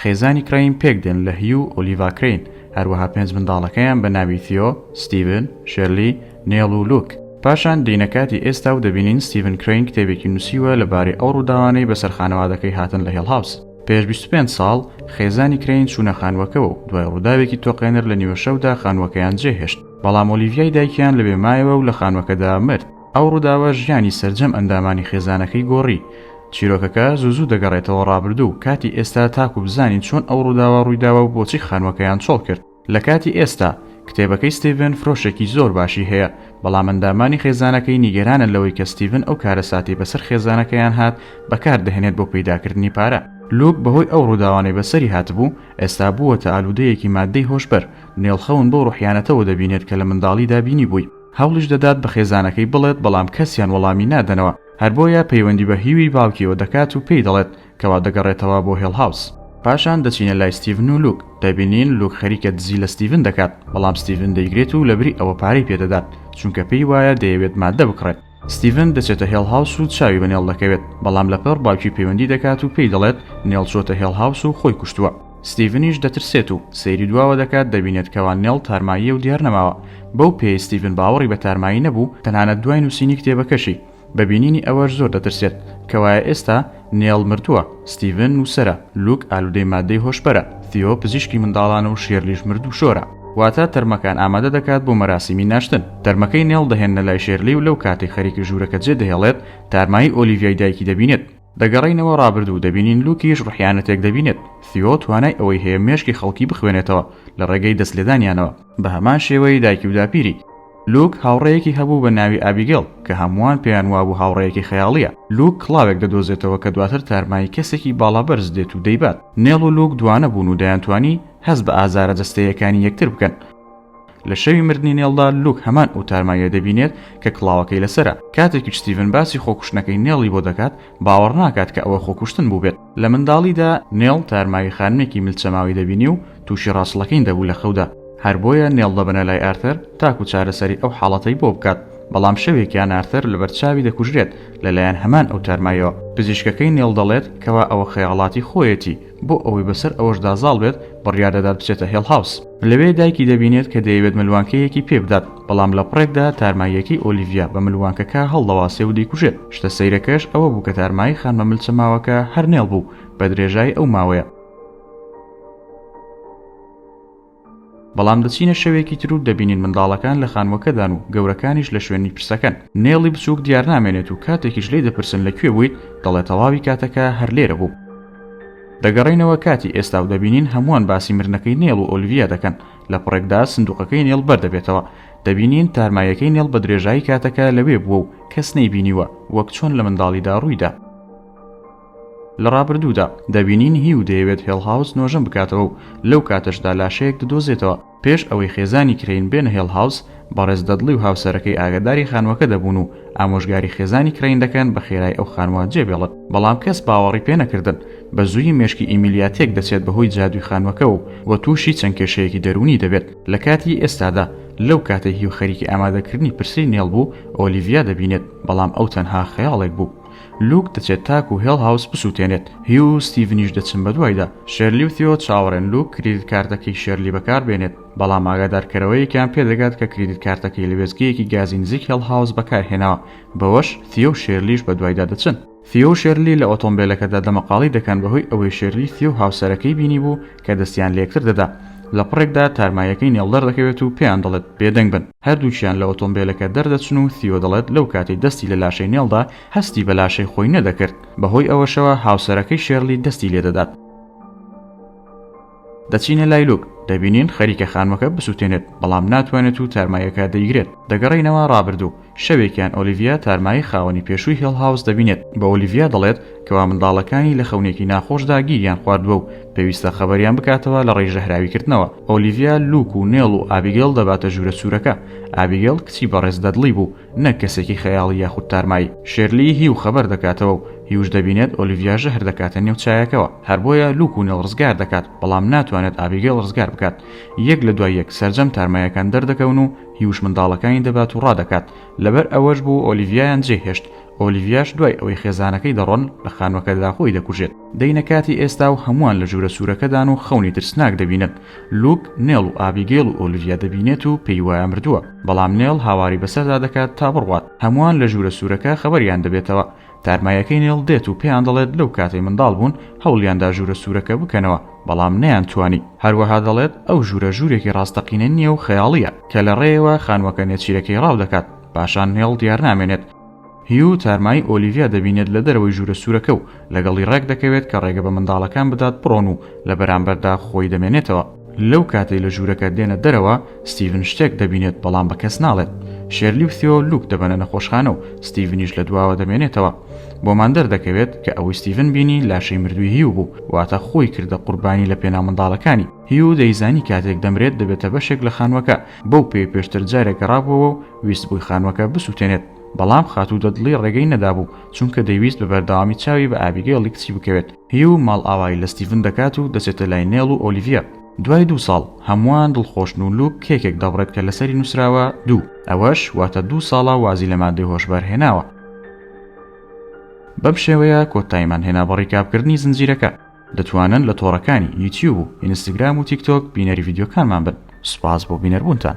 خێزانی کرەین پێکدێن لە هیو و ئۆلیڤا کرەین، هەروەها پێنج منداڵەکەیان بە ناوی ثیۆ، ستیڤن، شێرلی، نێڵ و لوک. پاشان دێینە کاتی ئێستا و دەبینین ستیڤن کرەین کتێبێکی نووسیوە لەبارەی ئەو ڕووداوانەی بەسەر خانەوادەکەی هاتن لە هێڵ هاوس. پێش بیست و پێنج ساڵ، خێزانی کرەین چوونە خانووەکەوە و دوای ڕووداوێکی تۆقێنەر لە نیوەشەودا خانووەکەیان جێهێشت، بەڵام ئۆلیڤیای دایکیان لەوێ مایەوە و لە خانووەکەدا مرد. ئەو ڕووداوە ژیانی سەرجەم ئەندامانی خێزانەکەی گۆڕی. چیرۆکەکە زوو زوو دەگەڕێتەوە ڕابردوو و کاتی ئێستا تاکوو بزانین چۆن ئەو ڕووداوە ڕوویداوە و بۆچی خانووەکەیان چۆڵ کرد. لە کاتی ئێستا، کتێبەکەی ستیڤن فرۆشێکی زۆر باشی هەیە، بەڵام ئەندامانی خێزانەکەی نیگەرانن لەوەی کە ستیڤن ئەو کارەساتەی بەسەر خێزانەکەیان هات بەکار دەهێنێت بۆ پەیداکردنی پارە. لوک بەهۆی ئەو ڕووداوانەی بەسەری هاتبوو، ئێستا بووەتە ئالوودەیەکی ماددەی هۆشبەر، نێڵ خەون بەو ڕوحیانەتەوە دەبینێت کە لە منداڵیدا بینیبووی. هەوڵیش دەدات بە خێزانەکەی بڵێت بەڵام کەسیان وەڵامی نادەنەوە، هەر بۆیە پەیوەندی بە هیوی باوکیەوە دەکات و پێی دەڵێت کەوا دەگەڕێتەوە بۆ هێڵ هاوس. پاشان دەچینە لای ستیڤن و لوک، دەبینین لوک خەریکە دزی لە ستیڤن دەکات، بەڵام ستیڤن دەیگرێت و لەبری ئەوە پارەی پێ دەدات، چونکە پێی وایە دەیەوێت ماددە بکڕێت. ستیڤن دەچێتە هێڵ هاوس و چاوی بە نێڵ دەکەوێت، بەڵام لەپڕ باوکی پەیوەندی دەکات و پێی دەڵێت نێڵ چۆتە هێڵ هاوس و خۆی کوشتووە. ستیڤنیش دەترسێت و سەیری دواوە دەکات، دەبینێت کەوا نێڵ تارماییە و دیار نەماوە، بەو پێیەی ستیڤن باوەڕی بە تارمایی نەبوو، تەنانەت دوای نووسینی کتێبەکەشی، بە بینینی ئەوەش زۆر دەترسێت، کەوایە ئێستا نێڵ مردووە، ستیڤن نووسەرە، لوک ئالوودەی ماددەی هۆشبەرە، ثیۆ پزیشکی منداڵانە و شێرلیش مردووشۆرە. واتە تەرمەکان ئامادە دەکات بۆ مەراسیمی ناشتن. تەرمەکەی نێڵ دەهێننە لای شێرلی و لەو کاتەی خەریکە ژوورەکە جێدەهێڵێت، تارمایی ئۆلیڤیای دایکی دەبینێت. دەگەڕێینەوە ڕابردوو دەبینین لوکیش ڕحیانەتێک دەبینێت سیۆ توانای ئەوەی هەیە مێشکی خەڵکی بخوێنێتەوە لە ڕێگەی دەست لێدانیانەوە بە هەمان شێوەی دایکی و داپیری لوک هاوڕێیەکی هەبوو بە ناوی ئابیگەڵ کە هەمووان پێیان وابوو هاوڕێیەکی خەیاڵیە لوک کڵاوێک دەدۆزێتەوە کە دواتر تارمایی کەسێکی باڵا بەرز دێت و دەیبات نێڵ و لوک دوانە بوون و دەیانتوانی هەست بە ئازارە جەستەیەکانی یەکتر بکەن لە شەوی مردنی نێڵدا لوک هەمان ئەو تارماییە دەبینێت کە کڵاوەکەی لەسرە کاتێکی ستیڤن باسی خۆکوشتنەکەی نێڵی بۆ دەکات باوەڕ ناکات کە ئەوە خۆکوشتن بووبێت لە منداڵیدا نێڵ تارماوی خانمێکی ملچەماوی دەبینی و تووشی ڕاستڵەکەین دەبوو لە خەودا هەر بۆیە نێڵ دەبەنە لای ئارتەر تاکو چارەسەری ئەو حاڵەتەی بۆ بکات بەڵام شەوێکیان ئارتەر لەبەر چاوی دەکوژرێت لەلایەن هەمان ئەو تارمایەوە پزیشکەکەی نێڵ دەڵێت کەوا ئەوە خەیاڵاتی خۆیەتی بۆ ئەوەی بەسەر ئەوەشدا زاڵ بێت، بڕیار دەدات بچێتە هێڵ هاوس. لەوێ دایکی دەبینێت کە دەیەوێت ملوانکەیەکی پێ بدات، بەڵام لە پڕێکدا تارماییەکەی ئۆلیڤیا بە ملوانکەکە هەڵدەواسێ و دەیکوژێت. شتە سەیرەکەش ئەوە بوو کە تارمایی خانمە ملچەماوەکە هەر نێڵ بوو بە درێژایی ئەو ماوەیە. بەڵام دەچینە شەوێکی تر و دەبینین منداڵەکان لە خانووەکەدان و گەورەکانیش لە شوێنی پرسەکەن نێڵی بچووک دیارنامێنێت و کاتێکیش لی دەپرسن لە کوێ بوویت دەڵێ تەواوی کاتەکە هەر لێرە بوو دەگەڕینەوە کاتی ئێستا و دەبینین هەمووان باسی مرنەکەی نێڵ و ئۆلڤیا دەکەن لە پڕێکدا سندوقەکەی نێڵ بەردەبێتەوە دەبینین تارمایەکەی نێڵ بە درێژایی کاتەکە لەوێ بووە و کەس نەیبینیوە وەک چۆن لە منداڵیدا ڕوویدا لە ڕابردوودا دەبینین هیو دەیەوێت هێڵ هاوس نۆژەن بکاتەوە و لەو کاتەشدا لاشەیەک ددۆزێتەوە، پێش ئەوەی خێزانی کرەین بێنە هێڵ هاوس، بەڕێز دەدڵی و هاوسەرەکەی ئاگەداری خانووەکە دەبوون و ئامۆژگاری خێزانی کرەین دەکەن بە خێرای ئەو خانووە جێبێڵن، بەڵام کەس باوەڕی پێ نەکردن، بە زوویی مێشکی ئیمیلیا تێک دەچێت بە هۆی جادووی خانووەکەوە و تووشی چەند کێشەیەکی دەروونی دەبێت، لە کاتی ئێستادا لەو کاتەی هیو خەریکی ئامادەکردنی پرسەی نێڵ بوو ئۆلیڤیا دەبینێت، بەڵام ئەو تەنها خەیاڵێک بوو. لوک دەچێت تاکو هێڵ هاوس بسوتێنێت هیو و ستیڤنیش دەچن بەدوایدا شێرلی و ثیۆ چاوەڕێن لوک کریدت کارتەکەی شێرلی بەکاربێنێت بەڵام ئاگادارکەرەوەیەکیان پێدەگات کە کریدت کارتەکەی لە وێستگەیەکی گازی نزیک هێڵ هاوس بەکارهێناوە بەوەش ثیۆ و شێرلیش بەدوایدا دەچن ثیۆ و شێرلی لە ئۆتۆمبێلەکەدا دەمەقاڵی دەکەن بەهۆی ئەوەی شێرلی ثیۆ و هاوسەرەکەی بینیبوو کە دەستیان لەیەکتر دەدا لەپڕێکدا تارماییەکەی نێڵدەردەکەوێت و پێیان دەڵێت بێدەنگ بن. هەردووکیان لە ئۆتۆمبێلەکە دەردەچن و ثیۆ دەڵێت لەو کاتەی دەستی لە لاشەی نێڵدا، هەستی بە لاشەی خۆی نەدەکرد، بەهۆی ئەوەشەوە هاوسەرەکەی شێرلی دەستی لێدەدات. دەچینە لای لوک، دەبینین خەریکە خانمەکە بسوتێنێت، بەڵام ناتوانێت و تارماییەکە دەیگرێت. دەگەڕێینەوە ڕابردوو، شەوێکیان ئۆلیڤیا تارمایی خاوەنی پێشووی هێڵ هاوس دەبینێت، بە ئۆلیڤیا دەڵێت کەوا منداڵەکانی لە خەونێکی ناخۆشدا گیریان خواردووە و پێویستە خەبەریان بکاتەوە لەڕێی ژەهراویکردنەوە. ئۆلیڤیا لوک و نێڵ و ئابیگەل دەباتە ژوورە سوورەکە. ئابیگەل کچی بەڕێز دەدڵی بوو، نەک کەسێکی خەیاڵی یاخود تارمایی. شێرلی هیو خەبەر دەکاتەوە و هیوش دەبینێت ئۆلیڤیا ژەهر دەکاتە نێو چایەکەوە. هەر بۆیە لوک و نێڵ ڕزگار دەکات، بەڵام ناتوانێت ئابیگەل ڕزگار بکات. یەک لە دوای یەک سەرجەم تارماییەکان دەردەکەون و هیوش منداڵەکانی دەبات و ڕادەکات. لەبەر ئەوەش بوو ئۆلیڤیایان جێهێشت. ئۆلیڤیاش دوای ئەوەی خێزانەکەی دەڕۆن لە خانوەکەدا خۆی دەکوژێت دەینە کاتی ئێستا و هەمووان لە ژوورە سوورەکەدان و خەونی ترسناک دەبینن لوک نێڵ و ئابیگەیڵ و ئۆلیڤیا دەبینێت و پێی وایە مردووە بەڵام نێڵ هاواری بەسەردا دەکات تا بڕوات هەمووان لە ژوورە سوورەکە خەبەریان دەبێتەوە تارمایەکەی نێڵ دێت و پێیان دەڵێت لەو کاتەی منداڵ بوون هەوڵیاندا ژوورە سوورەکە بکەنەوە بەڵام نەیان توانی هەروەها دەڵێت ئەو ژوورە ژوورێکی ڕاستەقینە نییە و خەیاڵییە کە لە ڕێیەوە خانووەکە نێچیرەکەی ڕاو دەکات پاشان نێڵ دیار نامێنێت هیو تارمای ئۆلیڤیا دەبینێت لە دەرەوەی ژوورە سوورەکە و لەگەڵی ڕێکدەکەوێت کە ڕێگە بە منداڵەکان بدات بڕۆن و لە بەرامبەردا خۆی دەمێنێتەوە. لەو کاتەی لە ژوورەکە دێنە دەرەوە، ستیڤن شتێک دەبینێت بەڵام بە کەس ناڵێت. شێرلی و ثیۆ لوک دەبەنە نەخۆشخانە و ستیڤنیش لە دواوە دەمێنێتەوە. بۆمان دەردەکەوێت کە ئەوەی ستیڤن بینی لاشەی مردووی هیو بوو، واتە خۆی کردە قوربانی لە پێناو منداڵەکانی. هیو دەیزانی کاتێک دەمرێت دەبێتە بەشێک لە خانووەکە، بەو پێی پێشتر جارێک گەڕابووەوە و ویستبووی خانووەکە بسووتێنێت، بەڵام خاتوو دەدڵی ڕێگەی نەدابوو، چونکە دەیویست بە بەردەوامی چاوی بە ئابیگەیڵی کچی بکەوێت. هیو ماڵئاوایی لە ستیڤن دەکات و دەچێتە لای نێڵ و ئۆلیڤیا. دوای دوو ساڵ، هەمووان دڵخۆشن و لوک کێکێک دەبڕێت کە لەسەری نووسراوە، دوو. ئەوەش واتە دوو ساڵە وازی لە مادەی هۆشبەر هێناوە. بەم شێوەیە کۆتایمان هێنا بە ڕیکابکردنی زنجیرەکە. دەتوانن لە تۆڕەکانی یوتیوب و ئینستاگرام و تیکتۆک بینەری ڤیددیوکانمان بن سوپاس بۆ بینەربوونتان.